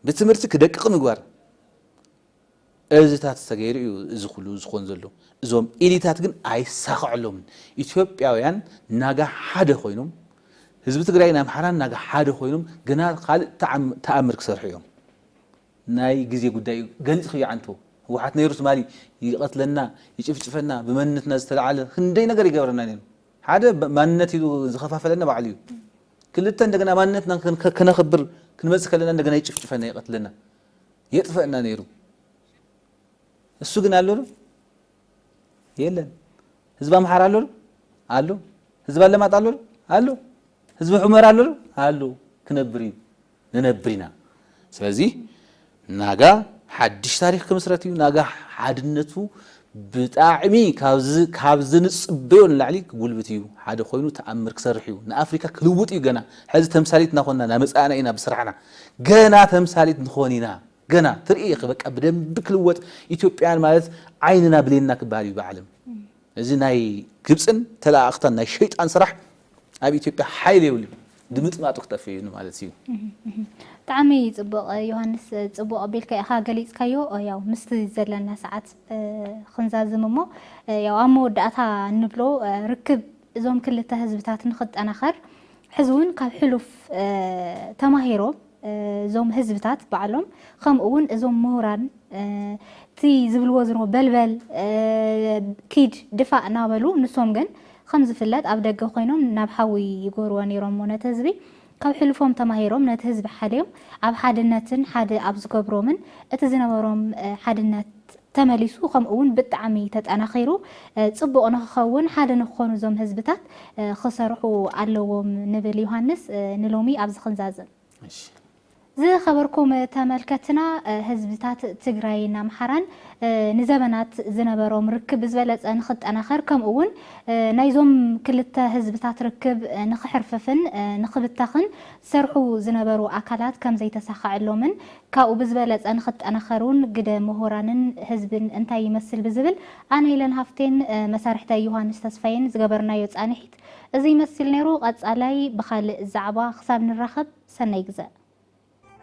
ብትምህርቲ ክደቅቕ ምግባር፣ እዚታት ተገይሩ እዩ እዚ ኩሉ ዝኮን ዘሎ እዞም ኢሊታት ግን ኣይሳከዐሎምን ኢትዮጵያውያን ናጋ ሓደ ኮይኖም ህዝቢ ትግራይን ኣምሓራን ናጋ ሓደ ኮይኖም ገና ካልእ ታኣምር ክሰርሑ እዮም ናይ ግዜ ጉዳይ እዩ ገሊፅክዮ ዓንቶ ህወሓት ነይሩ ትማሊ ይቀትለና ይጭፍጭፈና ብመንነትና ዝተላዓለ ክንደይ ነገር ይገብረና ነይሩ ሓደ ማንነት ኢሉ ዝከፋፈለና ባዕሉ እዩ ክልተ እንደገና ማንነትና ከነክብር ክንመፅእ ከለና እንደገና ይጭፍጭፈና ይቀትለና የጥፈእና ነይሩ እሱ ግን ኣሎ ዶ የለን ህዝቢ ኣምሓራ ኣሎ ዶ ኣሎ ህዝቢ ኣለማጣ ኣሎ ዶ ኣሎ ህዝቢ ሑመራ ኣሎ ዶ ኣሎ ክነብር እዩ ንነብር ኢና ስለዚ ናጋ ሓድሽ ታሪክ ክምስረት እዩ ናጋ ሓድነቱ ብጣዕሚ ካብ ዝንጽበዮ ንላዕሊ ክጉልብት ኢዩ ሓደ ኮይኑ ተኣምር ክሰርሕ ኢዩ ንኣፍሪካ ክልውጥ ኢዩ ገና ሕዚ ተምሳሊት እናኮንና ናመጻእና ኢና ብስራሕና ገና ተምሳሊት ንኮን ኢና ገና ትርኢ ኢኪ በቃ ብደንቢ ክልወጥ ኢትዮጵያን ማለት ዓይንና ብሌንና ክበሃል ኢዩ ብዓለም እዚ ናይ ግብጽን ተለኣኣክታን ናይ ሸይጣን ስራሕ ኣብ ኢትዮጵያ ሓይሊ የብሉን ድምጥማጡ ክጠፍእ እዩ ንማለት እዩ። ብጣዕሚ ጽቡቕ ዮሃንስ ጽቡቕ ኣቢልካ ኢኻ ገሊጽካዮ ያው ምስቲ ዘለና ሰዓት ክንዛዝም እሞ ያው ኣብ መወዳእታ እንብሎ ርክብ እዞም ክልተ ህዝብታት ንኽጠናኸር ሕዚ እውን ካብ ሕሉፍ ተማሂሮም እዞም ህዝብታት ባዕሎም ከምኡ እውን እዞም ምሁራን እቲ ዝብልዎ ዝሮ በልበል ኪድ ድፋእ እናበሉ ንሶም ግን ከም ዝፍለጥ ኣብ ደገ ኮይኖም ናብ ሓዊ ይጎርዎ ነይሮሞ ነቲ ህዝቢ ካብ ሕልፎም ተማሂሮም ነቲ ህዝቢ ሓልዮም ኣብ ሓድነትን ሓደ ኣብ ዝገብሮምን እቲ ዝነበሮም ሓድነት ተመሊሱ ከምኡ ውን ብጣዕሚ ተጠናኺሩ ፅቡቕ ንኽኸውን ሓደ ንኽኾኑ እዞም ህዝብታት ኽሰርሑ ኣለዎም ንብል ዮሃንስ ንሎሚ ኣብዚ ኽንዛዝም። እሺ። ዝኸበርኩም ተመልከትና ህዝብታት ትግራይን ኣምሓራን ንዘበናት ዝነበሮም ርክብ ብዝበለፀ ንኽጠናኸር ከምኡ ውን ናይዞም ክልተ ህዝብታት ርክብ ንኽሕርፍፍን ንኽብተኽን ዝሰርሑ ዝነበሩ ኣካላት ከምዘይተሳኸዐሎምን ካብኡ ብዝበለፀ ንክጠናኸሩን ግደ ምሁራንን ህዝብን እንታይ ይመስል ብዝብል ኣነ ኢለን ሃፍቴን መሳርሕተይ ዮሃንስ ተስፋዬን ዝገበርናዮ ፃንሒት እዙይ ይመስል ነይሩ። ቐፃላይ ብኻልእ ዛዕባ ክሳብ ንራኸብ ሰናይ ግዘ።